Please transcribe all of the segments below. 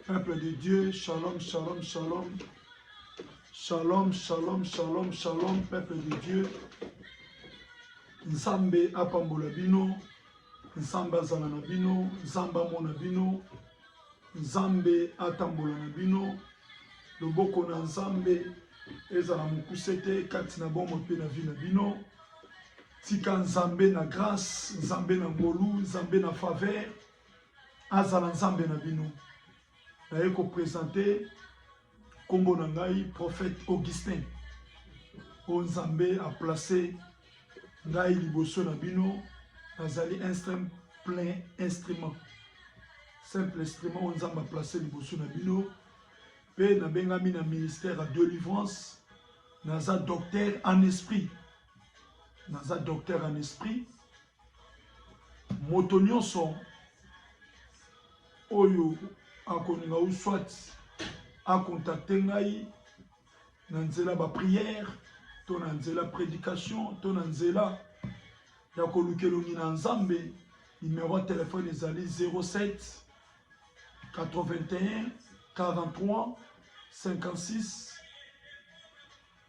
Peuple de Dieu, shalom, shalom, shalom. Shalom, shalom, shalom, shalom, peuple de Dieu. Nzambe apambola bino, Nzambe azala na bino, Nzambe amona bino, Nzambe atambola na bino. Loboko na Nzambe ezala mokuse te kati na bomoi mpe na vie na bino. Tika Nzambe na grace, Nzambe na ngolu, Nzambe na faveur azala Nzambe na bino. Naye ko presenter kombo na ngai prophète Augustin oyo Nzambe a placer ngai liboso na bino, nazali un simple plein instrument simple instrument oyo Nzambe a placer liboso na bino, mpe nabengami na ministère ya delivrance, naza docteur en esprit naza docteur en esprit moto nyonso oyo akolinga ou soit akontakte ngai na nzela baprière to na nzela prédication to na nzela ya kolukelongi na nzambe numero ya telefone ezali 07 81 43 56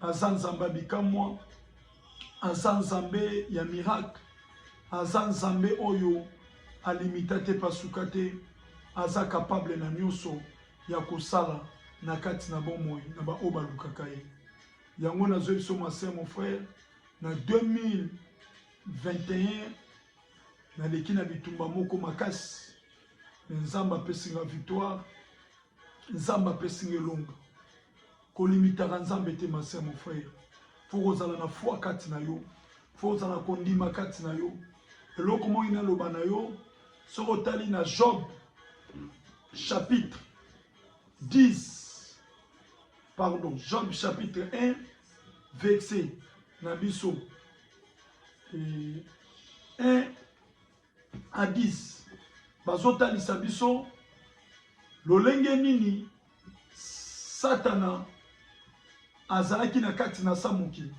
Aza Nzambe ya bikamwa, aza Nzambe ya miracle, aza Nzambe oyo alimita te, pasuka te, aza capable na nyonso ya kosala na kati na bomoi na baoyo balukaka ye. Yango nazwi biso ma sœur mon frère na 2021 naleki na bitumba moko makasi, mais Nzambe apesi nga victoire Nzambe apesi nga elonga. Kolimitaka Nzambe te ma sœur mon frère. Faut kozala na foi kati na yo. Faut kozala na kondima kati na yo. Eloko moi naloba na yo soki otali na Job chapitre 10 pardon Job chapitre 1 verset na biso 1 Addis, bazotalisa biso lolenge nini Satana azalaki na kati na sa mokili.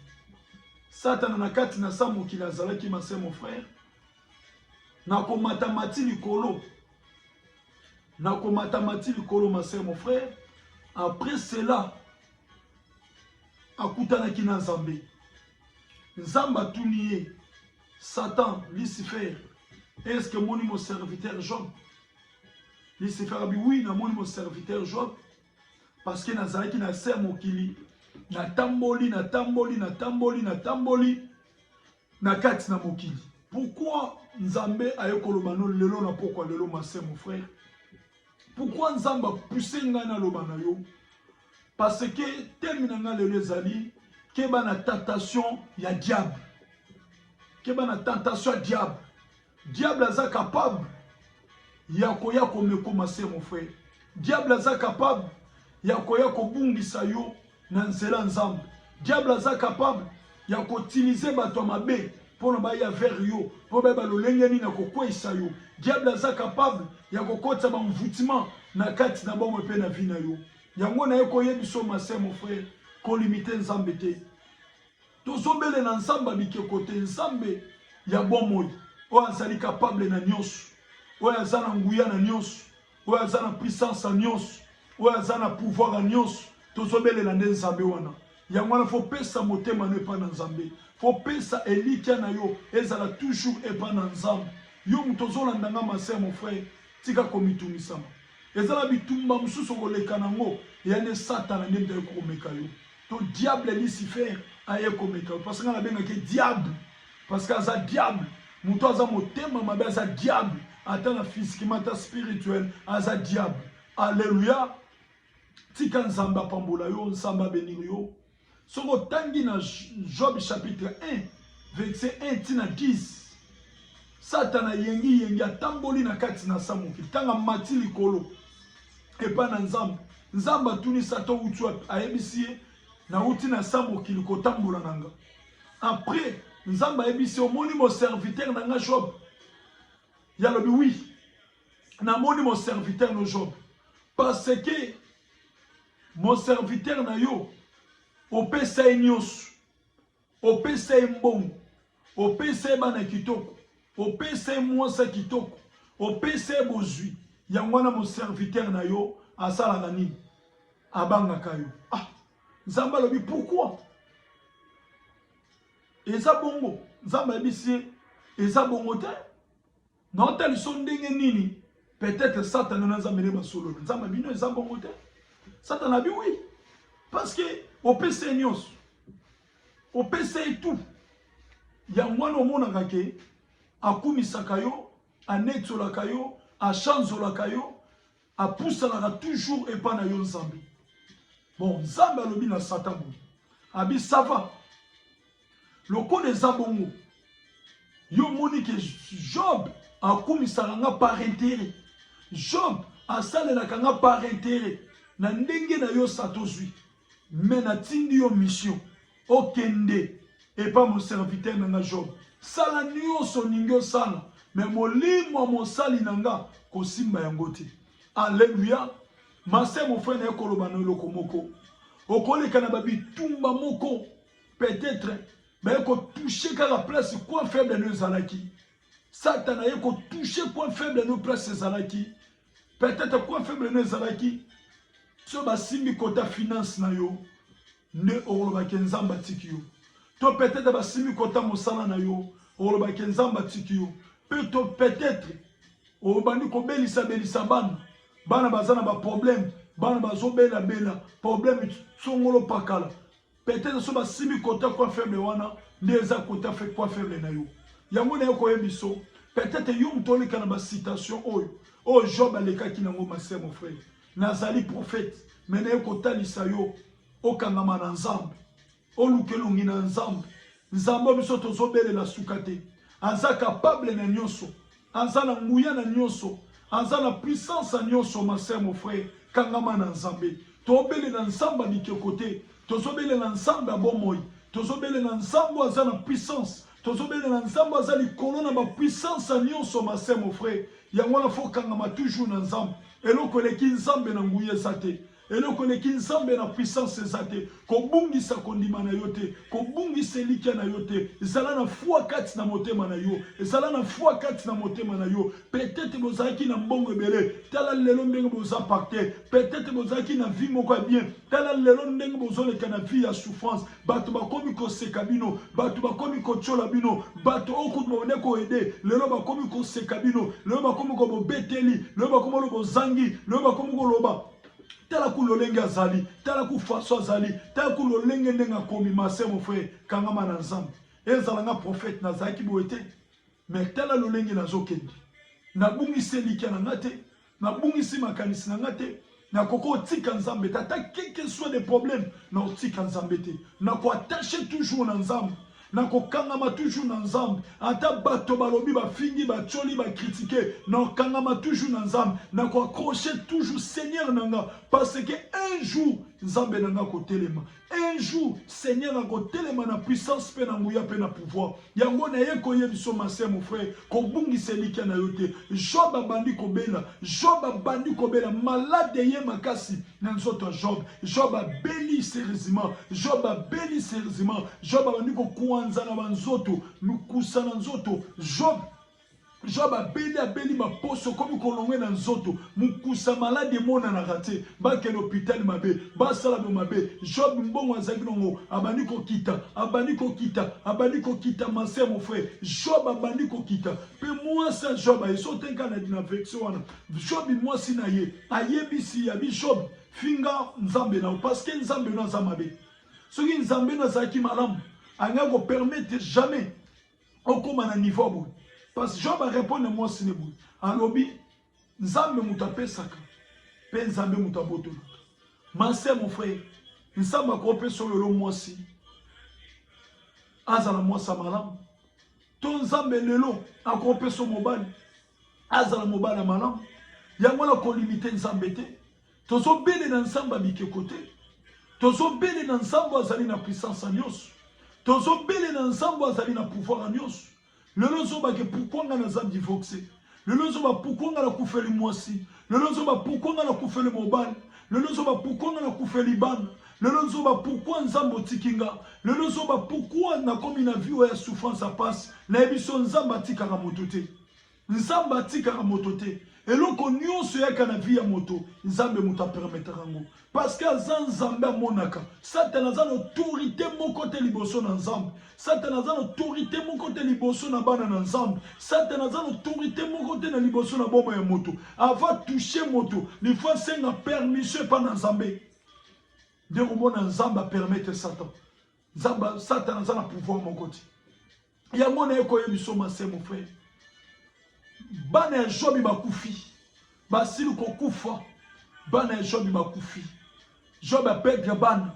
Satana na kati na sa mokili azalaki mase mon frère na komatamati likolo na komatamati likolo mase mon frère après cela akutanaki na Nzambe. Nzambe atuni ye Satan, Lucifer, est-ce que moni mon serviteur Job? Lucifer a dit oui, na moni mon serviteur Job parce que nazalaki na se mokili na tamboli na tamboli na tamboli na tamboli na kati na mokili pourquoi nzambe aye koloba no lelo na pokwa lelo mase mon frère pourquoi nzambe apuse ngai naloba na yo Parce que temi na nga lelo ezali keba na tentation ya diable. Keba na tentation ya diable. Diable aza capable ya koya komekoma se mon frère. Diable aza capable ya koya kobungisa yo na nzela nzambe. Diable aza capable ya kotimize bato ya mabe mpo na baya vers yo mpo bayeba lolenge nini ya kokweisa yo diable aza capable ya kokotisa banvutima na kati na bomoi mpe na vi na yo yango naye koyebisa yo mase mon frère kolimite nzambe te tozobele na nzambe ya bikeko te nzambe ya bomoi oyo azali kapable na nyonso oyo aza na nguya na nyonso oyo aza na puissance ya nyonso oyo aza na pouvoir ya nyonso tozobelela nde nzambe wana yango wana fo pesa motema no epai na nzambe fo pesa elikya na yo ezala toujours epai na nzambe yo moto ozolanda nga maser mon frère tika komitungisama eza na bitumba mosusu okoleka na yango eya nde satana nde moto ayekokomeka yo to diable lucifer aye komeka yo parce nga nabengaki ye diable parce que aza diable moto aza motema mabe aza diable ata na physiquement ata spirituel aza diable alleluya tika nzambe apambola yo nzambe abenini yo soki otangi na job chapitre 1 verset 1 ntina 10 Satana yengi yengi atamboli na kati na sa mokili. Ntango amati likolo epai na Nzambe, Nzambe atuni Satan outi wapi, ayebisi ye nauti na sa mokili kotambola na nga. Après Nzambe ayebisi ye omoni mo serviteur na nga Job? Ye alobi oui, namoni mo serviteur no Job parce que mon serviteur na yo opesa ye nyonso opesa ye mbongo opesa ye bana kitoko opesa ye mwasa kitoko opesa ye bozwi yango wana moserviteur na yo asalaka nini abangaka yo ah nzambe alobi pourkui eza bongo nzambe ayebisi ye eza bongo te Na otaliso ndenge nini peut-être Satana na Nzambe ne basolo. Nzambe bino eza bongo te. Satana bi oui. Parce que opesa ye nyonso. Opesa ye tout. Yango wana omonaka ke akumisaka yo, anetsolaka yo, achanzolaka yo, Apusanaka toujours epa na yo Nzambe. Bon, Nzambe alobi na Satan boye. Abi ça va. Lokola eza bongo. Yo moni ke Job akumisaka nga par intérêt. Job asalelaka nga par intérêt. Na ndenge na yo sa tozwi. Mais natindi yo mission. Okende epa mon serviteur na nga Job, sala nionso olingi osala, mais molimo ya mosali na nga kosimba yango te. Alleluia! Ma sœur, mon frère, naye koloba na eloko moko. Okoleka na ba bitumba moko, peut-être baye ko toucher kaka place coin faible no ezalaki. Satan aye ko toucher coin faible no place ezalaki. peut-être quoi faible na ezalaki so basimbi kota finance na yo nde okoloba ke nzambe atiki yo to peut-être basimbi kota mosala na yo okoloba ke nzambe atiki yo mpe to peut-être obandi kobelisabelisa bana bana baza na baproblème bana bazobelabela problème songolo pakala Peut-être so basimbi quota quoi faible wana nde eza quota fait quoi faible na yo. Yango na yo koye biso. Peut-être yo moto oleka na ba citation oyo. Oyo oh, Job alekaki nango ma sœur mon frère. Nazali prophète mais na yo kotalisa yo okangama na Nzambe. Oluka elongi na Nzambe. Nzambe biso tozobelela suka te. Aza capable na nyonso. Aza na nguya na nionso. Aza na puissance ya nionso ma sœur mon frère kangama na nzambe. To belela nzambe ya bikeko te. Tozo belela nzambe ya bomoi. Tozo belela nzambe oyo aza na puissance. Tozo belela nzambe oyo aza likolo na ba puissance ya nionso ma sœur mon frère. Yango wana faut kangama toujours na nzambe. Eloko eleki nzambe na nguya eza te. Eloko eleki Nzambe na puissance eza te. Kobungisa kondima na yo te. Kobungisa elikia na yo te. Zala na foi kati na motema na yo. Zala na foi kati na motema na yo. Peut-etre bozalaki na mbongo ebele. Tala lelo ndenge boza pacte. Peut-etre bozalaki na vie moko ya bien. Tala lelo ndenge bozoleka na vie ya souffrance. bato bakomi koseka bino bato bakomi kotyola bino bato oyo kutu babande koede lelo bakomi koseka bino lelo bakomi ko bobeteli lelo bakomi olo bozangi lelo bakomi koloba tala ku lolenge azali tala ku faso azali tala ku lolenge ndenge akomi mase mon frere kangama na nzambe ezala nga profete nazalaki boye te me tala lolenge nazokende nabungisi elikya na nga te nabungisi makanisi na nga te nakoki otika nzambe te ata keke soit de problème na otika nzambe te nakoattache toujours na nzambe nakokangama toujours na nzambe ata bato balobi bafingi batioli bakritike nakokangama toujours na nzambe nakoaccroche toujours seigneur na nga parce que un jour nzambe na nga kotelema Un jour, Seigneur, na kotelema na puissance pe na nguya pe na pouvoir. Yango na ye koye biso ma sœur mon frère, kobungisa elikia na yo te. Job abandi kobela, Job abandi kobela, malade eye makasi na nzoto ya Job. Job abeli sérieusement, Job abeli sérieusement, Job abandi kokuanza na ba nzoto, mikusa na nzoto. Job Job abeli abeli ba poso ekomi kolongue na nzoto mukusa malade emonanaka te bakende hopital mabe basala bo mabe Job mbongo azalaki nango abandi kokita abandi kokita abandi kokita ma sœur mon frère Job abandi kokita pe mwasi ya Job aye so tenka na dina version wana Job mwasi na ye ayebisi ya bi Job finga nzambe na parce que nzambe no aza mabe soki nzambe no azalaki malamu anga ko permettre jamais okoma na niveau ya boye parce que job arepondre mwasi ne boye alobi nzambe moto apesaka mpe nzambe moto abotolaka mase mon frère nzambe akopesa oyo lelo mwasi azala mwasi ya malamu to nzambe lelo akopesa mobali azala mobali ya malamu yango wana kolimite nzambe te Tozo bele na nzambe ya bikeko te tozo bele na nzambe azali na puissance ya nyonso tozo bele na nzambe azali na pouvoir ya nyonso lelo zoba ke pourquoi nga naza divorce lelo zoba pourquoi nga nakufeli mwasi lelo zoba pourquoi nga nakufeli mobali lelo zoba pourquoi nga nakufeli bana lelo zoba pourquoi nzambe otiki nga lelo zoba pourquoi nakomi na vie oyo ya souffrance ya pasi nayebi so nzambe atikaka moto te Nzambe atikaka moto te. Eloko nyonso eyaka na vie ya moto, Nzambe moto apermetaka yango. Parce que aza Nzambe amonaka. Satana aza na autorité moko te liboso na Nzambe. Satana aza na autorité moko te liboso na bana na Nzambe. Satana aza na autorité moko te na liboso na boma ya moto. Ava toucher moto, il faut asenga permission epa na Nzambe. Nde komona Nzambe apermettre Satan. Zamba, Satan aza na pouvoir moko ti. Yango na eko emission ma c'est mon frère. Bana ya Jobi bakufi. Basili kokufa. Bana ya Jobi bakufi. Job apedre bana.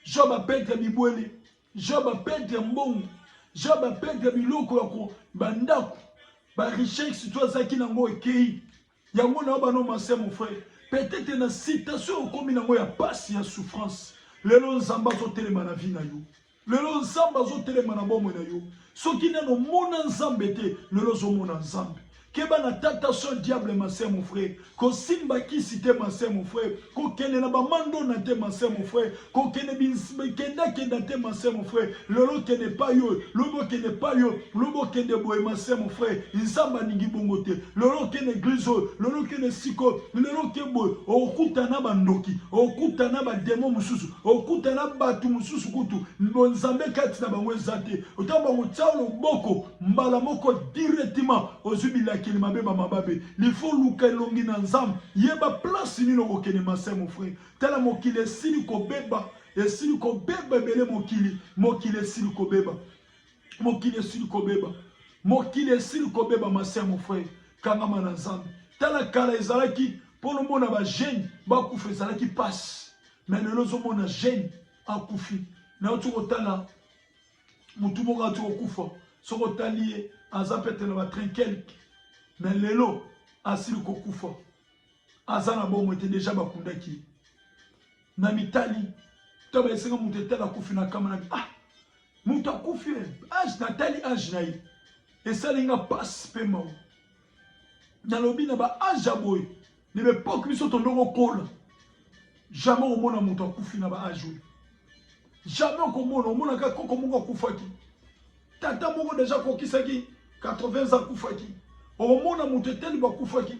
Job apedre bibwele. Job apedre mbongo. Job apedre biloko ya ko bandako. Ba richesse to azaki nango ekei. Yango na bana masya mon frère, peut-être na citation okomi nango ya pasi ya souffrance. Lelo Nzambe azotelema na vie na yo. Lelo Nzambe azotelema na bomoi na yo. Soki nano mona Nzambe te, lelo ozomona Nzambe. Keba na tentation diable ma sœur mon frère. Kosimba kisi te ma sœur mon frère. kokende na bamandona te mase mon frère kokende kendakenda te mase mon frère lelo okende epai oyo lobi okende epai oyo lobi okende boye mase mon frère nzambe alingi bongo te lelo okende eglize oyo lelo okende esika oyo lelo oke boye okuta na bandoki okuta na bademo mosusu okuta na bato mosusu kutu bonzambe kati na bango eza te otango bango tya loboko mbala moko directement ozwi bilakeli mabe bamababe Il faut luka elongi na nzambe yeba place nini okokende mase mon frère tala mokili esili kobeba esili kobeba ebele mokili mokili esili kobeba mokili esili kobeba mokili esili kobeba mase mon frère kangama na nzambe tala kala ezalaki mpo nomona bajeune bakufa ezalaki mpasi me lelo ozomona jeune akufi nauti kotala mutu moko ati kokufa soki otali ye aza pete na batrain quelque me lelo asili kokufa aza na bomoi te deja bakundaki ye na mitali to baesenga moto etala akufi na kama na ah moto akufi age natali age na ye esali nga mpasi mpe mawa nalobi na ba age ya boye na ba epoque biso tondoko okola jamais okomona moto akufi na ba age oyo jamais okomona omonaka koko moko akufaki tata moko deja akokisaki 80 ans akufaki okomona moto eteli bakufaki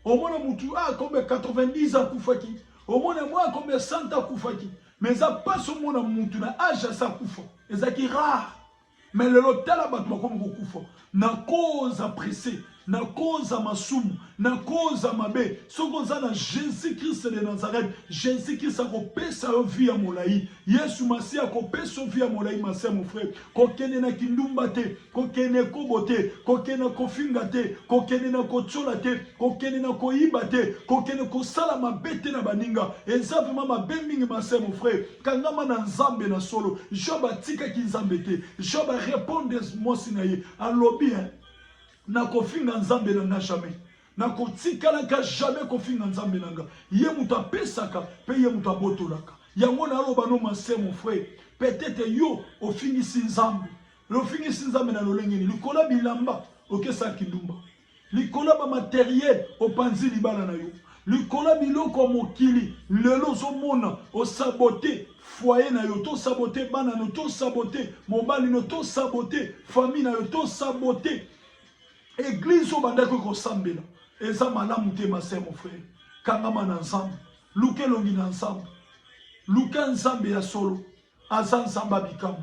omona motu akombe 90 akufaki omona mwa akombe 100 akufaki mais eza mpasi omona motu na age asa akufa ezalaki rare Mais lelo tala bato bakomi kokufa na cause ya presse, na cause ya masumu, na cause ya mabe. Soki oza na Jesus Christ de Nazareth, Jesus Christ akopesa yo vie ya molayi. Yesu Masiya akopesa yo vie ya molayi, Masiya mon frère. Kokende na kindumba te, kokende kobo te, kokende na kofinga te, kokende na kotiola te, kokende na koyiba te, kokende kosala mabe te na baninga. Eza vraiment mabe mingi, Masiya mon frère. Kangama na Nzambe na solo. Job atikaki Nzambe te. Job a répondre mwasi na ye. Alobi hein. Nakofinga Nzambe na nga jamais. Nakotikalaka jamais kofinga Nzambe na nga. Ye moto apesaka pe ye moto abotolaka. Yango na aloba no ma sœur mon frère. Peut-être yo ofingisi Nzambe. Ofingisi Nzambe na lolenge ni likolo bilamba okesa kindumba. Likolo ya ba materiel opanzi libala na yo. Likolo ya biloko ya mokili lelo ozomona osabote foyer na yo, to sabote bana no, to sabote mobali no, to sabote famille na yo, to sabote eglise oyo bandaki kosambela. Eza malamu te ma sœur, mon frère. Kangama na Nzambe. Luka elongi na Nzambe. Luka Nzambe ya solo. Aza Nzambe ya bikamwa.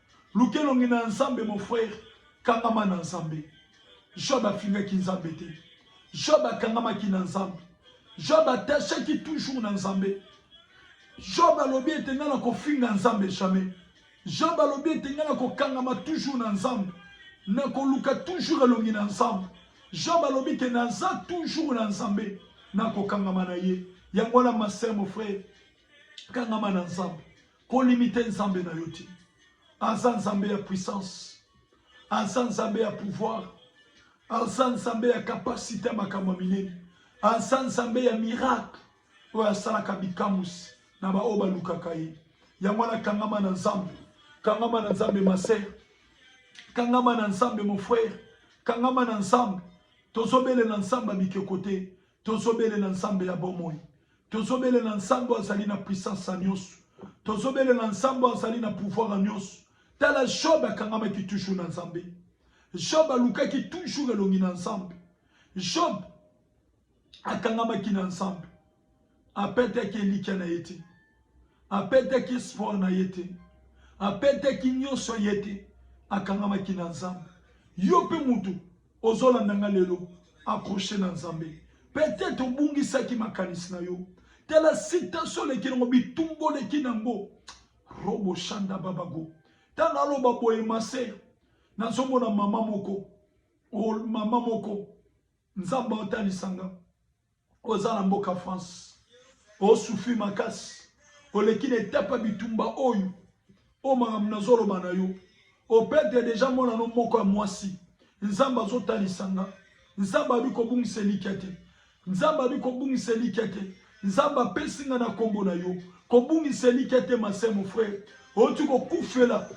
Luka elongi na Nzambe mon frère, kangama na Nzambe. Job afingaki Nzambe te. Job akangamaki na Nzambe. Job attachaki toujours na Nzambe. Job alobi ete ngai nakofinga Nzambe jamais. Job alobi ete ngai nakokangama toujours na Nzambe. Nakoluka toujours elongi na Nzambe. Job alobi ke naza toujours na Nzambe. Nakokangama na ye. Yango wana ma sœur, mon frère, kangama na Nzambe. Ko limiter Nzambe na yo te. Aza Nzambe ya puissance. Aza Nzambe ya pouvoir. Aza Nzambe ya capacité ya makambo minene. Aza Nzambe ya miracle oyo asalaka bikamusi na baoyo balukaka ye. Yango wana kangama na Nzambe. Kangama na Nzambe ma sœur. Kangama na Nzambe mon frère. Kangama na Nzambe. Tozobele na Nzambe bikeko te. Tozobelela Nzambe ya bomoi. Tozobelela Nzambe azali na puissance ya nyonso. Tozobelela Nzambe azali na pouvoir ya nyonso. Tala Job akangamaki toujours na Nzambe. Job alukaki toujours elongi na Nzambe. Job akangamaki na Nzambe. Apetaki elikya na ye te. Apetaki espoir na ye te. Apetaki nyonso ye te. Akangamaki na Nzambe. Yo mpe moto Ozolanda nga lelo accroche na Nzambe peut-être obungisaki makanisi na yo tala citation oleki nango bitumba oleki nango robo shanda babago ntango aloba boye maser nazomona mama moko mama moko nzambe atalisa nga Oza na mboka France. Osufi makasi. Oleki na etape bitumba oyo. Oyo makambo nazoloba na yo. Opete deja mwana no moko ya mwasi. Nzambe azotalisa nga. Nzambe abi kobungisa elikya te. Nzambe abi kobungisa elikya te. Nzambe apesi nga na kombo na yo. Kobungisa elikya te masemo frere. Oti kokufela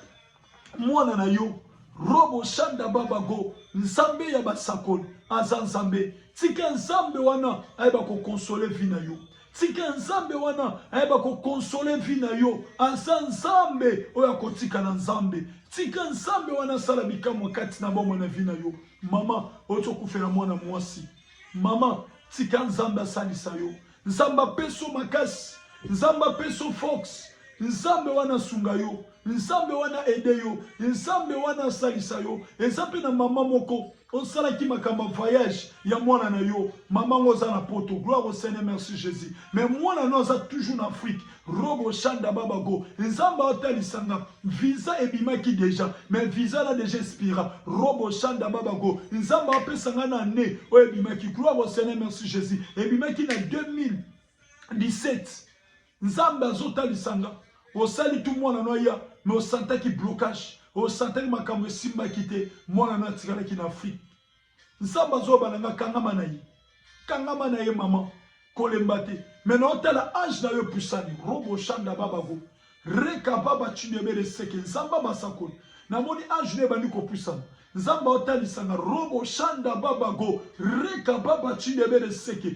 Mwana na yo Robo Shanda Baba Go, Nzambe ya basakoli aza Nzambe. Tika Nzambe wana ayeba ko consoler vie na yo. Tika Nzambe wana ayeba ko consoler vie na yo. Aza Nzambe oyo akotika na Nzambe. Tika Nzambe wana asala bikamwa kati na bomoi na vie na yo. Mama, ozokufela mwana mwasi. Mama, tika Nzambe asalisa yo. Nzambe apeso makasi, Nzambe apeso force, Nzambe wana asunga yo, Nzambe wana aide yo, Nzambe wana asalisa yo. Eza mpe na mama moko osalaki makambo ya voyage ya mwana na yo, mama ngo oza na poto, gloire au Seigneur, merci Jesus, mais mwana no aza toujours na Afrique, robo shanda babago, Nzambe atalisa nga Visa ebimaki deja mais visa na deja expira robo shanda babago nzambe apesa nga na année oyo ebimaki gloire au seigneur merci jesus ebimaki na 2017 nzambe azotalisa nga osali tu mwana no aya me osantaki blocage osantaki makambo esimbaki te mwana no atikalaki na afrique Nsamba zoba na nga kangama na ye. Kangama na ye maman. Kolemba te. Mais na otala âge na yo epusani. Robo shanda babago. Reka baba chidebere seke nsamba basakoli. Namoni âge na ebandi kopusana. Nzamba otalisa nga robo shanda babago. Reka baba chidebere seke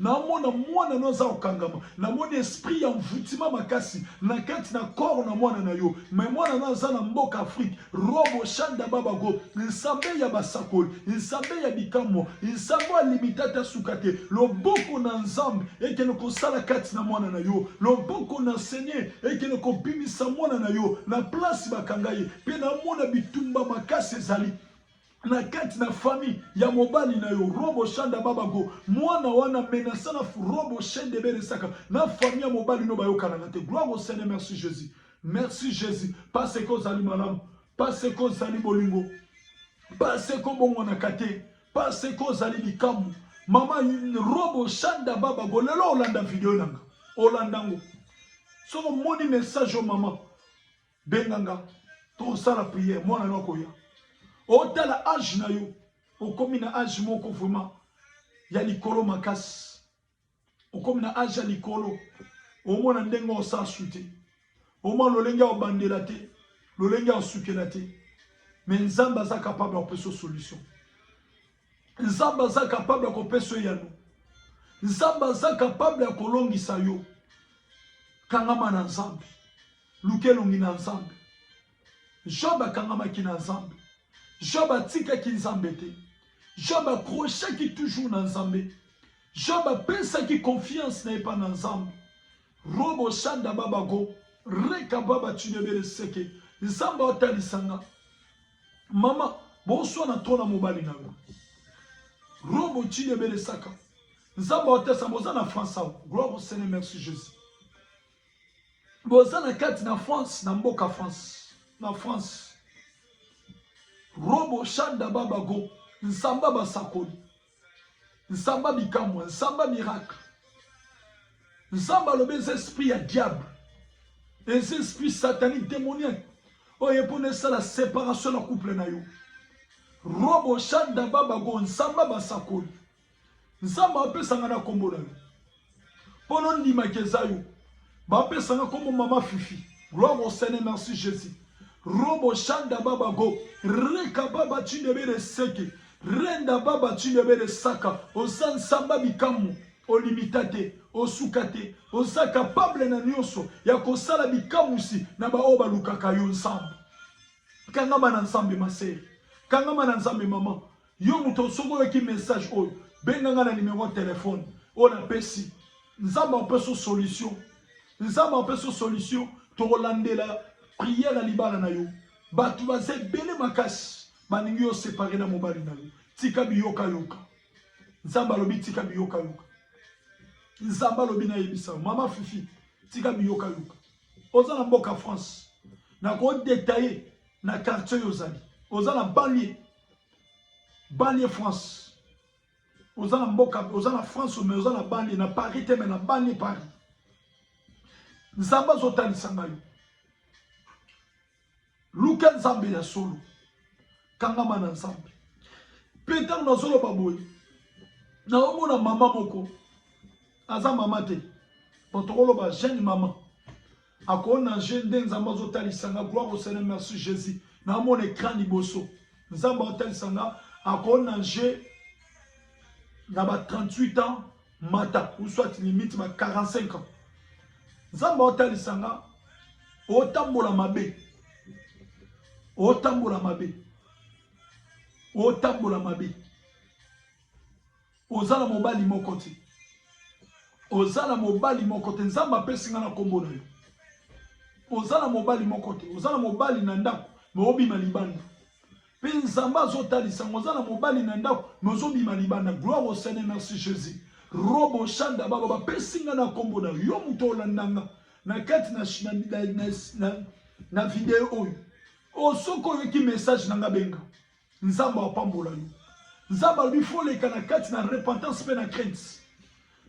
Naomona mwana no aza kokangama, namoni esprit ya envoutiment makasi na kati na corps na mwana na yo, mais mwana no aza na mboka Afrique. Robo Shanda Babago, Nzambe ya basakoli, Nzambe ya bikamwa, Nzambe ya limita ta suka te, loboko na Nzambe ekende kosala kati na mwana na yo, loboko na Seigneur ekende kobimisa mwana na yo na place bakanga ye, pe naomona bitumba makasi ezali na kati na famille ya mobali na yo robo shanda babago mwana wana menasa na robo shende beresaka na famille ya mobali no bayokanaka te gloire au seigneur merci jésus merci jésus parce que ozali malamu parce que ozali bolingo parce que obongwanaka te parce que ozali likambo mama robo shanda babago lelo olanda video nanga olanda ngo soki omoni message o mama benga nga tosala prière mwana no akoya otala age na yo okomi na age moko vraiment ya likolo makasi okomi na age ya likolo omona ndenge osasu te omona lolenge ya obandela te lolenge ya osukela te me nzambe aza capable ya kopesa solution Nzambe aza capable ya kopesa eyano. Nzambe aza capable ya kolongisa yo. Kangama na Nzambe, luka elongi na Nzambe. Job akangamaki na Nzambe. Job atikaki Nzambe te. Job akrochaki toujours na Nzambe. Job apesaki confiance na ye mpa na Nzambe. Robo shanda babago reka baba tunebele seke Nzambe atalisa nga Mama boswa na trop na mobali na yo. Robo chini ebele saka. Nzambe otesa boza na France awa. Gloire au Seigneur, merci Jésus. Boza na kati na France, na mboka France, na France. Robo Shanda Babago, Nsamba basakoli. Nsamba bikamwa, Nsamba miracle. Nzambe alobi eza esprit ya diable. Eza esprit satanique démoniaque. Oyo ye mpona esala séparation na couple na yo. Robo shanda babago Nsamba basakoli. Nzambe apesanga na kombo na yo. mpo nondimaki eza yo bapesanga nkombo mama fifi gloire au seigneur merci jésus robo shanda baba go reka baba cindebere seke renda baba cindebere saka oza nsamba bikamwa olimita te osuka te oza kapable na nyonso ya kosala bikamwisi na baoyo balukaka yo nsambo kangama na nzambe masere kangama na nzambe mama Yo moto soki oyoki message oyo benga nga na numero ya telefone oyo napesi nzambe apesa solution nzambe apesa solution tokolandela priere ya libala na yo bato baza ebele makasi balingi yo separe na mobali na yo tika biyokayoka nzambe alobi tika biyokayoka nzambe alobi nayebisa mama fifi tika biyokayoka oza na mboka france nakodetaye na quartier oyo ozali oza na banlie Banlieue France. Oza na mboka, oza na France mais oza na banlieue na Paris te mais na banlieue Paris. Nzambe azotalisa ngai. Luka Nzambe ya solo. Kangama na Nzambe. Mpe ntango nazoloba boye, naomona mama moko aza mama te, bo tokoloba jeune mama Ako nager nde nzambe azo talisa nga gloire au seigneur merci jesus na mona ecran liboso nzambe azo talisa nga ako nager na ba 38 ans mata ou soit limite ba 45 ans nzambe azo talisa nga otambola mabe otambola mabe otambola mabe Oza na mobali moko te. Oza na mobali moko te. Nzambe apesi nga na kombo na yo. Oza na mobali moko te. Oza na mobali na ndako, mais obima libanda. Pe Nzambe azotalisa ngo oza na mobali na ndako, mais ozobima libanda. Gloire au Seigneur, merci Jésus. Robo Shanda baba bapesi nga na kombo na yo. Yo moto olanda nga na kati na na na, na, na, na video oyo. Osoki oyoki message na nga benga. Nzambe apambola yo. Nzambe alobi faut leka na kati na repentance pe na crainte.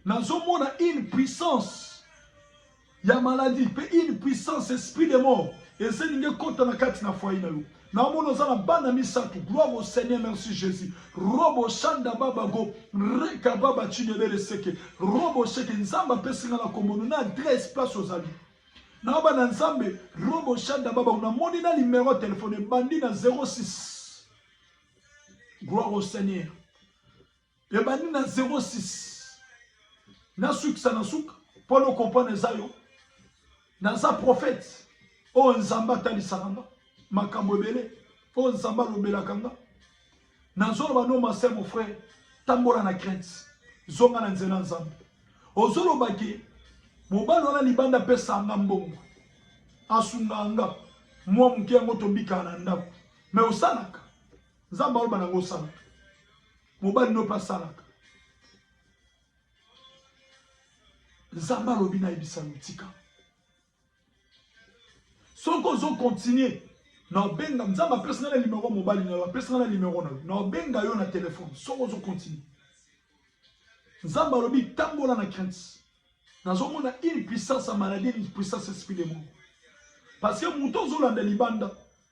Nazomona une puissance ya maladie pe une puissance esprit de mort eselingi ekota na kati na foyer na yo. Naomona oza na bana misato. Gloire au Seigneur, merci Jésus. Robo shanda baba go, reka baba chinebele seke. Robo seke nzamba pesi nga na kombo na adresse place ozali. Nao bana nzambe robo shanda baba na moni na numero ya telefone ebandi na 06 gloire au seigneur ebandi na 06 nasukisa na suka mpo no comprendre eza yo naza prophète oyo nzambe atalisaka nga makambo ebele oyo nzambe alobelaka nga Nazoloba no ma sœur mon frère tambola na crainte zonga na nzela nzambe ozoloba ke mobali wana libanda apesa nga mbongo asunga nga mwa moke yango tobikaka na ndako me osalaka nzambe aloba nango osalaka mobali no mpe asalaka nzambe alobi nayebisa yo tika soki ozo continue naobenga nzambe apesi nga na nimero mobali na yo apesi nga na nimero na yo naobenga yo na telefone soki ozo continue nzambe alobi tambola na crainte nazomona une puissance ya maladie une puissance esprit de moko parce que moto ozolanda libanda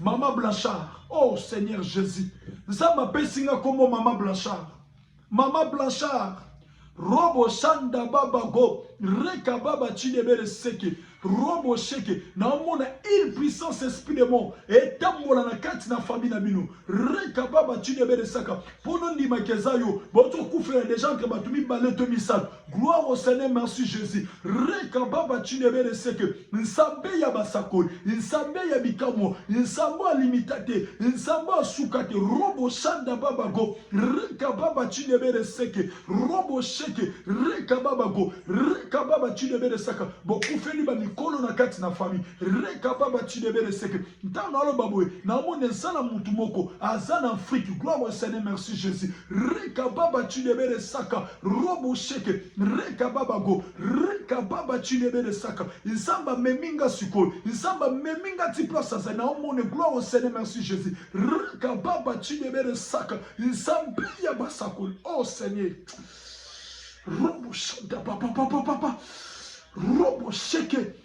Maman Blanchard, oh Seigneur Jésus, Nzambe apesi nga kombo Maman Blanchard. Maman Blanchard, robo sanda baba go, reka baba chidebere seke, robo sheke, naomona une puissance esprit de mort, etambola na kati na famille na bino, reka baba chidebere saka, pono ndima keza yo, boto kufela deja entre bato mibale to misato, Gloire au Seigneur, merci Jesus. Reka baba chinebere seke, nsambe ya basakoli, nsambe ya bikamwa, nsambo alimita te, nsambo asuka te, robo shanda baba go, reka baba chinebere seke, robo sheke, reka baba go, reka baba chinebere saka, bokufeli ba mikolo na kati na famille, reka baba chinebere seke, ntango aloba boye, naomona eza na mutu moko, aza na Afrique, gloire au Seigneur, merci Jesus. Reka baba chinebere saka, robo sheke reka baba go reka baba chinebele saka nzambe amemi nga sikoyo nzambe amemi nga ti place azali naomone gloire au seigneur merci jésus reka baba chinebele saka nzambe ya basakoli oh seigneur robo shanta papa papa papa robo sheke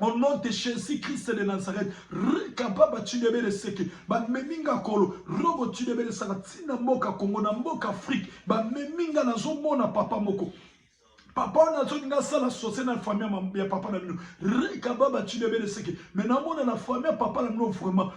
Au nom de Jésus Christ de Nazareth, rekababa tshidebele seke, bamemi nga kolo, robo tshidebele saka tina mboka Congo na mboka Afrique, bamemi nga nazomona papa moko. Papa wana azoki nga sala sosie na famille ya papa na bino, rekababa tshidebele seke, mais namona na famille ya papa na bino vraiment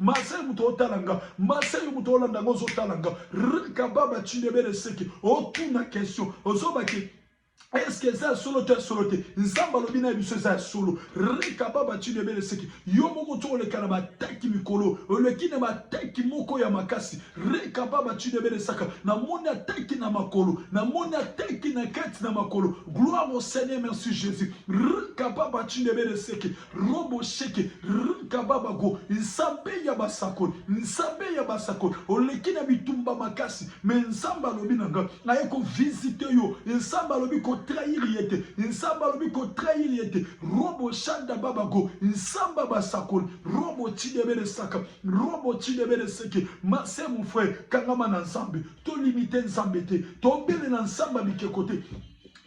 Marseille moto otala nga Marseille moto olanda nga ozotala nga kababa cindebele seke otuna question ozobake eske eza ya solo to ya solo te nzambe alobi na biso eza ya solo rekababa tino ebele seki yo moko to oleka na bataki mikolo oleki na bataki moko ya makasi rekababa tino ebele saka namoni ataki na makolo namoni ataki na kati na makolo gloire au seigneur merci jésus rekababa tino ebele seki Robo sheke rkababa go nzambe ya basakoli nzambe ya basakoli oleki na bitumba makasi me nzambe alobi na nga aye ko visite yo nzambe alobi ko trahir ye te nzambe alobi ko trahir ye te robo shanda baba go nzambe basakoli robo tidebele saka robo tidebele seke mase mon frère kangama na nzambe to limite nzambe te tobele na nzambe bikeko te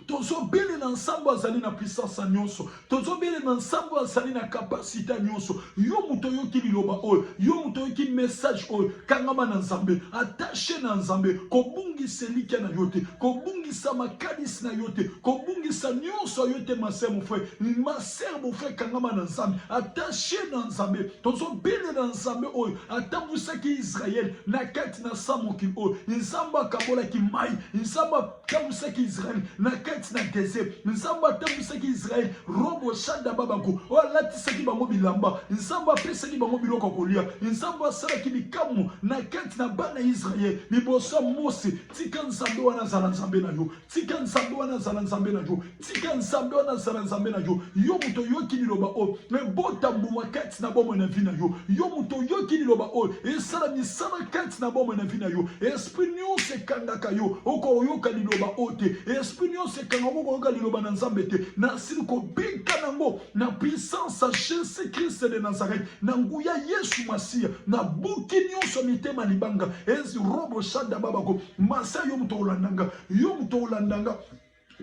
tozobelela nsambo azali na puissance nyonso tozobelela nsambo azali na kapasite nyonso yo moto oyoki liloba oyo yo moto oyoki message oyo kangama na nzambe attache na nzambe kobungisa elikya na yo te kobungisa makanisi na yo te kobungisa nyonso yo te mase mofre maser mofre kangama na nzambe attache na nzambe tozobelela nzambe oyo atambwisaki israele na kati na sa mokili oyo nzambe akabolaki mai nzambe atambwisaki israele na kati na desert nzambe atambwisaki israele robo shada babako oyo alatisaki bango bilamba nzambe apesaki bango biloko ya kolia nzambe asalaki bikamwa na kati na bana ya israele liboso ya mose tika nzambe wana azala nzambe na yo tika nzambe wana azala nzambe na yo Tika Nzambe wana azala Nzambe na yo. Yo moto oyoki liloba oyo ebota mbuma kati na bomoi na vi na yo. Yo moto oyoki liloba oyo esala misala kati na bomoi na vi na yo. Esprit nyonso ekangaka yo, okoyoka liloba oyo te. Esprit nyonso ekangaka, okoyoka liloba na Nzambe te. Nasili kobika nango na puissance ya Jesus Christ de Nazareth, na nguya Yesu Masiya. Nabuki nyonso mitema libanga. Ezi robo shada babako. Masiya yo moto olandanga, yo moto olandanga.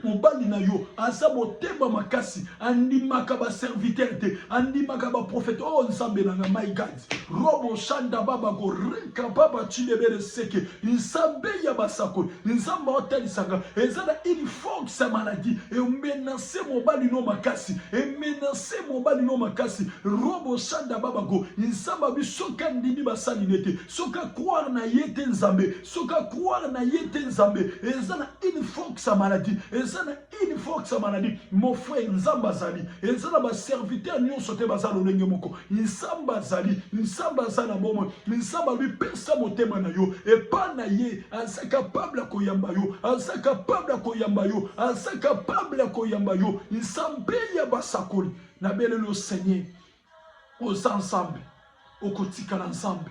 Mobali na yo aza motema makasi, andimaka ba serviteur te, andimaka ba prophète. Oh Nzambe na nga, my God, robo shanda baba go reka baba chilebere seke, Nzambe ya basakoli, Nzambe otalisaka, eza na une force ya maladie e menace mobali no makasi, e menace mobali no makasi, robo shanda baba go, Nzambe biso ka ndimi basali nete, soka croire na yete Nzambe. soki akroire na ye te nzambe eza na une force ya maladie eza na une force ya maladie mon frère nzambe azali eza na baserviteur nyonso te baza lolenge moko nzambe azali nzambe aza na bomoi nzambe alobi pesa motema na yo epa na ye aza kapable ya koyamba yo aza kapable ya koyamba yo aza kapable ya koyamba yo nzambe ya basakoli na belelo seigneur oza nzambe okotikala nzambe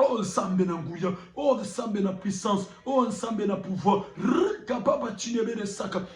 Oh Nzambe na nguya, oh Nzambe na puissance, oh Nzambe na pouvoir. Kababa Chinebere Saka,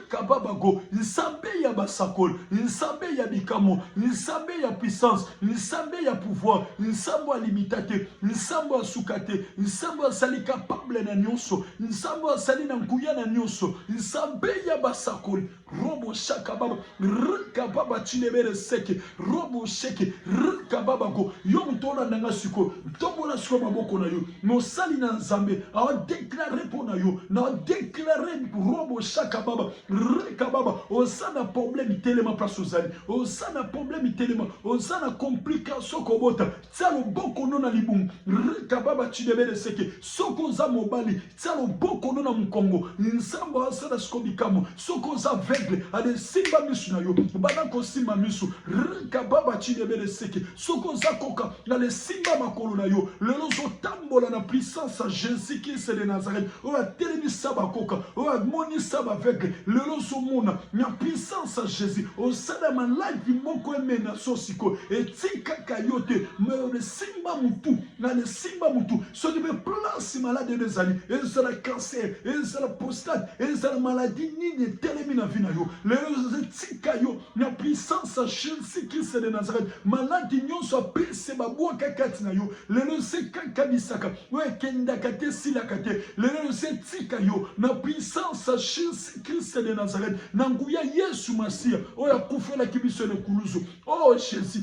Kababa Go, Nzambe ya basakoli, Nzambe ya bikamwa, Nzambe ya puissance, Nzambe ya pouvoir, Nzambe alimita te, Nzambe asuka te, Nzambe azali capable na nyonso, Nzambe azali na nguya na nyonso, Nzambe ya basakoli. robo shaka baba rka baba chilebere seke robo sheke rka baba ko yo moto olanda nga sikoyo tombola sikoyo maboko na yo mosali na nzambe aodeklare mpo na yo na odeklare robo shaka baba rka baba oza na probleme telema place ozali oza na probleme telema oza na complication kobota tia loboko no na libumu rka baba chilebere seke soki oza mobali Tia loboko no na mukongo. Nzambe asala siko bikamwa. Soki oza aveugle, ale simba misu na yo. Banda kosimba misu. Rika baba chini ebele seke. Soki oza koka, ale simba makolo na yo. Lelo ozo tambola na puissance ya Jesus Christ de Nazareth. Oyo atelemisa ba koka. Oyo amonisa ba aveugle. Lelo ozo mona na puissance ya Jesus. Osala maladi moko emena so siko. Etikaka yo te. Mais ole simba mutu. Ale simba mutu. soki mpe place maladi ebe ezali ezala cancer ezala prostate ezala maladi nini etelemi na vi na yo lelo ezoza etika yo na puissance ya chelsea kise de nazareth maladi nyonso apese babwaka kati na yo lelo ese kakanisaka oyo ekendaka te esilaka te lelo ese etika yo na puissance ya chelsea kise de nazareth na nguya yesu masiya oyo akufelaki biso na ekulusu o oh, jesus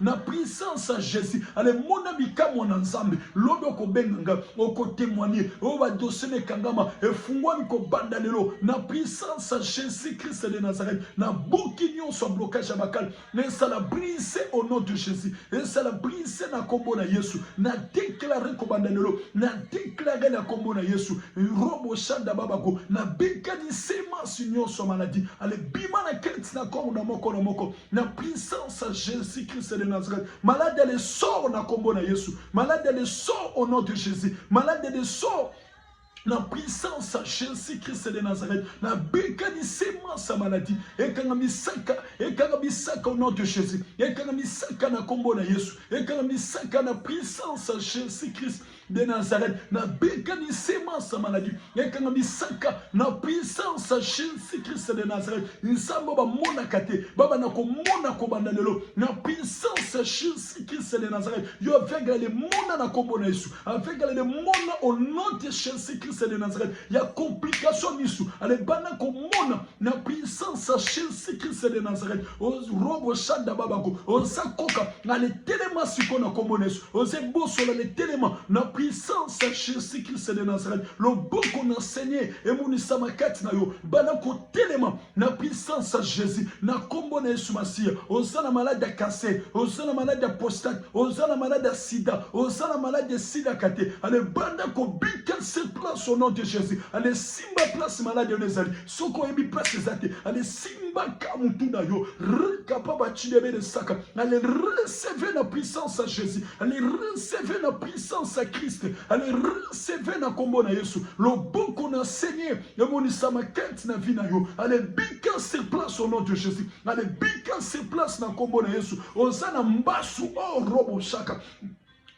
Na puissance ya Jesus, ale mona bikamwa na Nzambe. Lobi okobenga nga, oko temoigner. Oyo ba dossier na ekangama, efunguami kobanda lelo. Na puissance ya Jesus Christ de Nazareth, na buki nionso ya blocage ya bakali. Esala brise au nom de Jesus. Esala brise na kombo na Yesu. Na declare kobanda lelo, na declare na kombo na Yesu. Robo shanda babako, na bekani semence nionso ya maladie. Ale bima na kati na corps na moko na moko. na puissance ya Jésus Christ de Nazareth malade ya lesor na kombo na Yesu malade ya lesor au nom de Jésus malade ya lesor na puissance ya Jésus Christ de Nazareth na bika lisema sa maladie ekanga misaka ekanga misaka au nom de Jésus ekanga misaka na kombo na Yesu ekanga misaka na puissance ya Jésus Christ de Nazareth na bika ni sema sa maladie ekanga misaka na puissance ya Jésus Christ de Nazareth nsambo ba mona kate baba na ko mona ko banda lelo na puissance ya Jésus Christ de Nazareth yo aveugle le mona na kombo na Yesu aveugle le mona au nom de Jésus Christ de Nazareth ya complication misu ale bana ko mona na puissance ya Jésus Christ de Nazareth o robo shanda baba ko o sa koka ale telema siko na kombo na Yesu Oze bosola le telema na puissance ya Jésus Christ de Nazareth. Loboko na Seigneur emonisama kati na yo. Bana kotelema na puissance ya Jésus na kombo na Yesu Masiya. Oza na malade ya cancer, oza na malade ya prostate, oza na malade ya sida, oza na malade ya sida kate. Ale banda kobika se place au nom de Jésus. Ale simba place malade oyo ezali. soki oyebi place eza te ale simbaka mutu na yo rekapa bachidebe de saka ale receve na puissance ya jésus ale receve na puissance ya christ ale receve na kombo na yesu loboko na seigneur emonisama kati na vie na yo ale bika sur place au nom de jésus ale bika sur place na kombo na yesu oza na mbasu o oh, robo shaka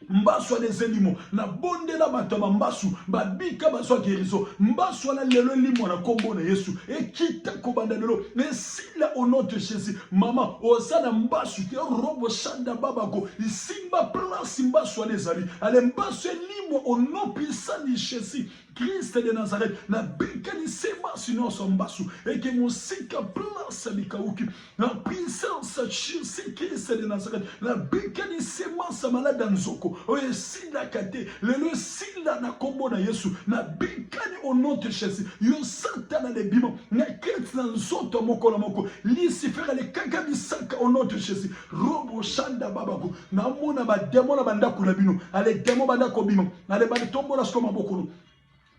mbasu wana eza elimo nabondela bato ya bambasu babika bazwa gerizo mbasu wana lelo elimwa na nkombo na yesu ekita kobanda lelo esila au nom de jésus mama oza na mbasu te robo shanda babako isimba place mbasu wana ezali ale mbasu elimwa au nom puissant de jésus Christ de Nazareth, na bekani se basi nyonso mbasu, eke mosika place likauki, na puissance ya Jésus Christ de Nazareth, na bekani se masa malade ya nzoko, oyo esilaka te, lelo esila na kombo na Yesu, na bekani au nom de Jésus, yo satana de bima, na kati na nzoto moko na moko, Lucifer alekaka bisaka au nom de Jésus, robo shanda babako, namona bademo na bandako na bino ale demo banda kobima ale bande tombola siko maboko no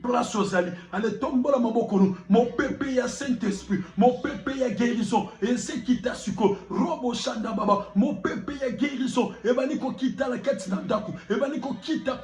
place ozali ale tombola maboko no mopepe ya saint esprit mopepe ya guérison ezekita siko robo shanda baba mopepe ya guérison ebandi kokita na kati na ndako ebandi kokita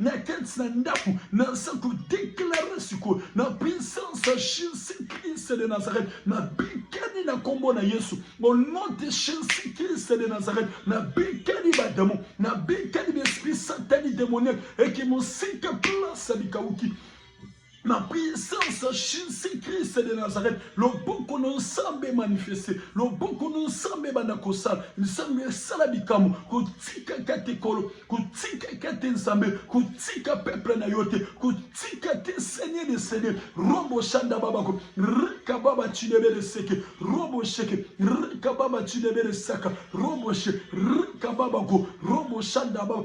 na kati na ndako naza kodeklare sikoyo na puissance ya jesus christ de nazareth nabikani na nkombo na yesu au nom de jesus christ de nazareth nabikani bademo nabikani baesprit satani demoniaque eke mosika place ya bikauki La puissance ya Jesus Christ de Nazareth, loboko na Nzambe manifeste, loboko na Nzambe ebanda kosala, Nzambe esala bikambo, kotikaka te kolo, kotikaka te Nzambe, kotika peuple na yo te, kotika te Seigneur de Seigneur, robo shanda babako, rika baba chinebele seke, robo sheke, rika baba chinebele saka, robo she, rika babako, robo shanda baba,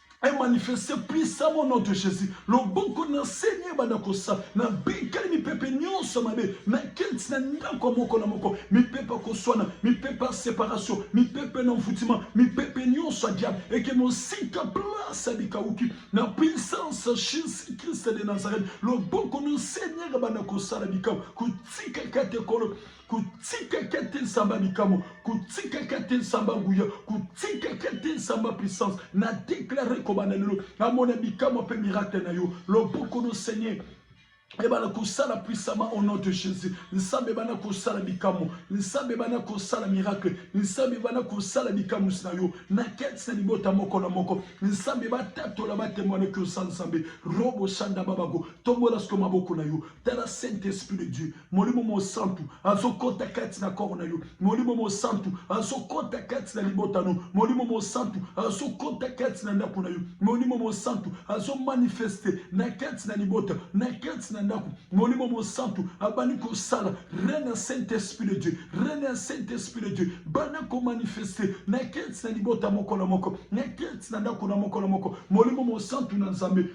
est manifesté puissamment au nom de Jésus. Loboko na Seigneur banda kosa na bikali mipepe nyonso mabe na kenti na ndako moko na moko mipepe koswana mipepe ya séparation mipepe na mfutima mipepe nyonso ya diable eke mosika place ya bikauki na puissance ya Jésus Christ de Nazareth. Loboko na Seigneur banda kosala bikau kotikaka te kolo kotikaka te nsamba likabo kotikaka te nsamba nguya kotikaka te nsamba puissance na deklare kobanda lelo namona bikamo mpe miracle na yo loboko no seigneur ebana kosala puissamment au nom de jésus nzambe ebana kosala bikamwa nzambe ebana kosala miracle nzambe ebana kosala bikamwisi na yo na kati na libota moko na moko nzambe batatola batemwanaki osa nzambe robo sanda babako tombola siko maboko na yo tala saint esprit de dieu Molimo Mosantu azokota kati na koro na yo. Molimo Mosantu azokota kati na libota no. Molimo Mosantu azokota kati na ndako na yo. Molimo Mosantu azomanifeste na kati na libota, na kati na ndako. Molimo Mosantu abandi kosala reine ya Saint Esprit de Dieu, reine ya Saint Esprit de Dieu banda komanifeste na kati na libota moko na moko, na kati na ndako na moko na moko. Molimo Mosantu na Nzambe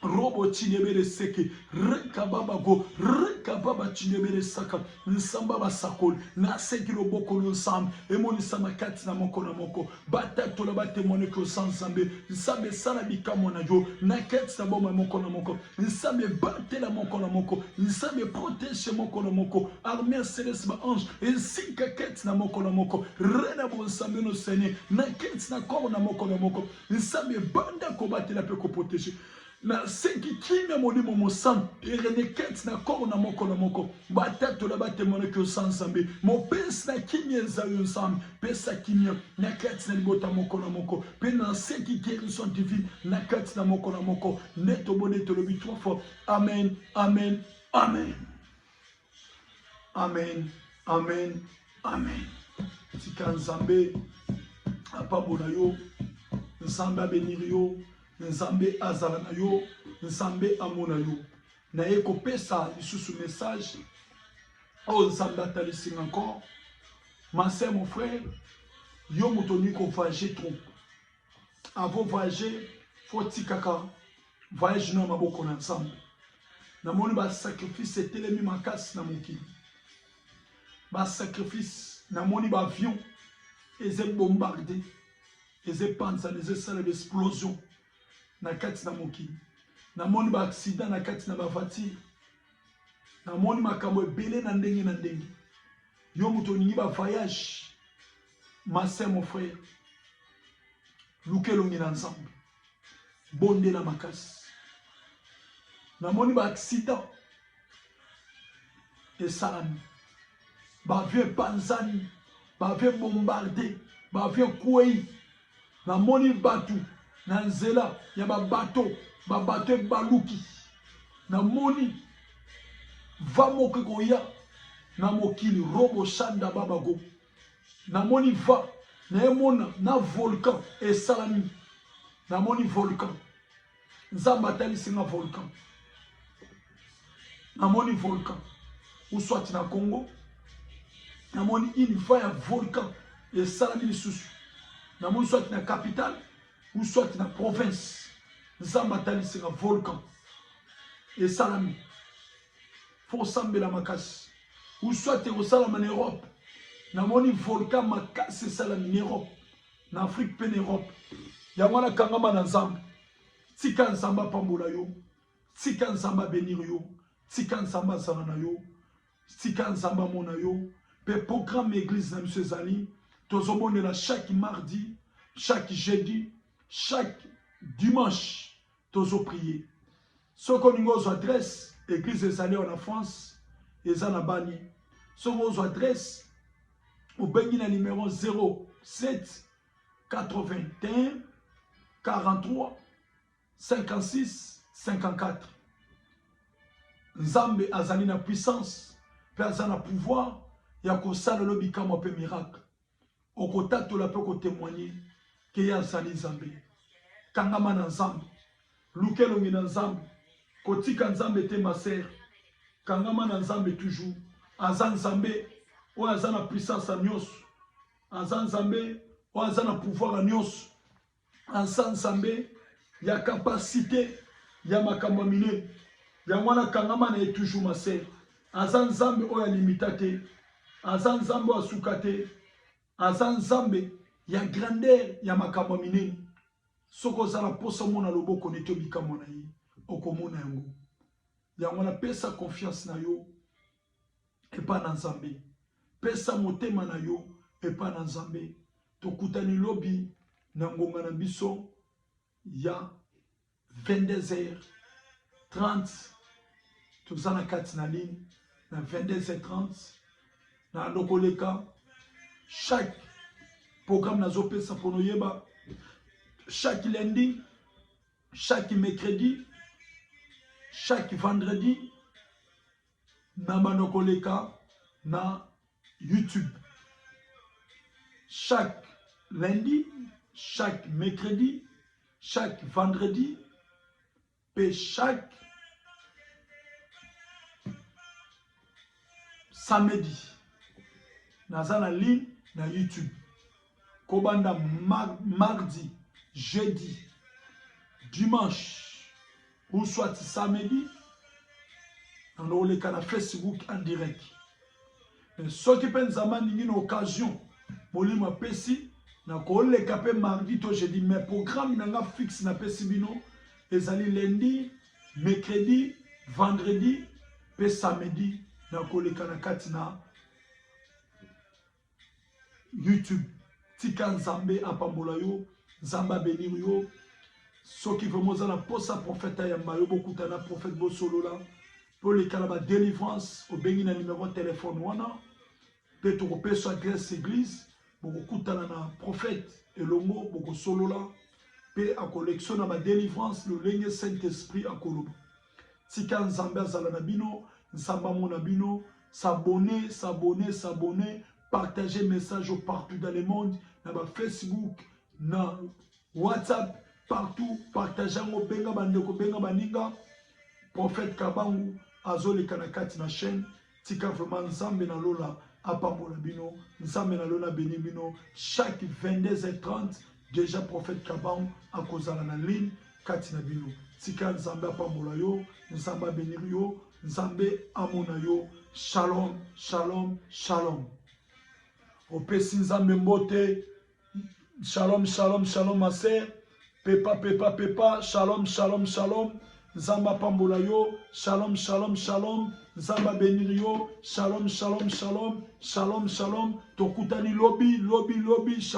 Robo Chinebele Seke, Reka Baba Go, Reka Baba Chinebele Saka, Nsamba Basakoli, na Seki Loboko lo Nsambe, emonisama kati na moko na moko, batatola batemwane ke oza Nzambe, Nsambe sala bikamwa na yo, na kati na boma moko na moko, Nsambe batela moko na moko, Nsambe protege moko na moko, armea celeste ba ange, esika kati na moko na moko, Rena Bonsambe no Seigneur, na kati na corps na moko na moko, Nzambe banda kobatela pe ko proteger na senki kimia molimo mosantu erenekete na koro na moko na moko batatola batemonaki oza nzambe mopesi na kimia eza yo nzambe pesa kimia na kati na libota moko na moko mpe na senki guerison divine na kati na moko na moko nde tobonde tolobi trois fois amen amen amen Amen. Amen. Amen. Tika Nzambe apambola yo. Nzambe abenir yo. Nzambe azala na yo. Nzambe amona yo. Naye kopesa lisusu message oyo oh, Nzambe atalisi nga encore. Ma sœur, mon frère, yo moto olingi kovage trop. avant voyager faut tikaka voyage na maboko na nzambe namoni basacrifice etelemi makasi na mokili basacrifice namoni baavion eza ebombarde eza epanzana eza esala baexplosion na kati na mokili namoni baaksida na kati na bavatire namoni makambo ebele na ndenge na ndenge yo moto olingi bavoyage Ma sœur, mon frère, luka elongi na Nzambe, bondela makasi. Namoni ba accident esalami, ba avion epanzani, ba avion bombarde, ba avion kwei. Namoni bato na nzela ya babato, babato ebaluki. Namoni va moko ekoya na mokili robo shanda babago namoni va naye mona na volcan esalami namoni volcan nzambe atalisi nga volcan namoni volcan uswati na congo namoni une va ya volcan esalami lisusu namoni swati na capitale uswati na province nzambe atalisi nga volcan esalami faut kosambela makasi ou soit ekosalama na europe namoni volcan makasi esalami na europe na afrique mpe na europe yango wana kangama na nzambe tika nzambe apambola yo tika nzambe abenir yo tika nzambe azala na yo tika nzambe amona yo mpe programme ya eglise na biso ezali tozobondela chaque mardi chaque jeudi chaque dimanche tozoprie Soki olingi ozwa adresse, eglise ezali awa na France, eza na bani. Soki ozwa adresse, obengi na numero 07 81 43 56 54. Nzambe azali na puissance mpe aza na pouvoir ya kosala lo bikamwa mpe miracle. okotatola mpe okotemoigne ke ye azali nzambe kangama na nzambe luka elongi na nzambe kotika nzambe te maser kangama na nzambe toujours aza nzambe oyo aza na puissance ya nyonso aza nzambe oyo aza na pouvoir ya nyonso Aza nzambe ya capacite ya makambo ya mine yango wana kangama na ye toujours ma sœur aza nzambe oyo alimita te aza nzambe oyo asuka te aza nzambe ya grandeur ya makambo ya minene soki oza na mposa omona loboko neti obikamwa na ye okomona yango yango wana pesa confiance na yo epai na Nzambe. Pesa motema na yo epai na Nzambe. Tokutani lobi na ngonga na biso ya 22h30. Toza na kati na ligne na 22h30 na lokoleka chaque programme nazopesa mpo noyeba chaque lundi chaque mercredi chaque vendredi na bando koleka na youtube chaque lundi chaque mercredi chaque vendredi mpe chaque samedi naza na ligne na youtube kobanda mardi jeudi dimanche ou soit samedi nano oleka na facebook en direct mais soki mpe nzambe alingi na occasion molimo apesi nakoleka mpe mardi to jeudi mais programme na nga fixe napesi bino ezali lundi mercredi vendredi mpe samedi nakoleka na kati na YouTube tika Nzambe apambola yo Nzambe abenir yo soki vraiment oza na posa prophète ayamba yo bokutana prophète bosolola mpe oleka na badelivrance obengi na numero ya telefone wana mpe tokopesa adresse église bokokutana na prophète elongo bokosolola mpe akolekisa na badelivrance lolenge saint esprit akoloba Tika Nzambe azala na bino, Nzambe amona bino. S'abonner, s'abonner, s'abonner, partager message au partout dans le monde, na ba Facebook, na WhatsApp, partout, partager yango, benga bandeko, benga baninga. Prophète Kabangu azoleka na kati na chaîne Tika vraiment Nzambe na lola apambola bino. Nzambe na lola beni bino. Chaque 22h30 déjà prophète Kabangu akozala na ligne kati na bino. Tika Nzambe apambola yo, Nzambe abenir yo, Nzambe amona yo. Shalom, shalom, shalom. Opesi Nzambe mbote, Shalom, shalom, shalom, ma sœur. Pepa, pepa, pepa. Shalom, shalom, shalom. Nzamba pambola yo. Shalom, shalom, shalom. Nzamba benir yo. Shalom, shalom, shalom. Shalom, shalom. Tokutani lobi, lobi, lobi. Shalom.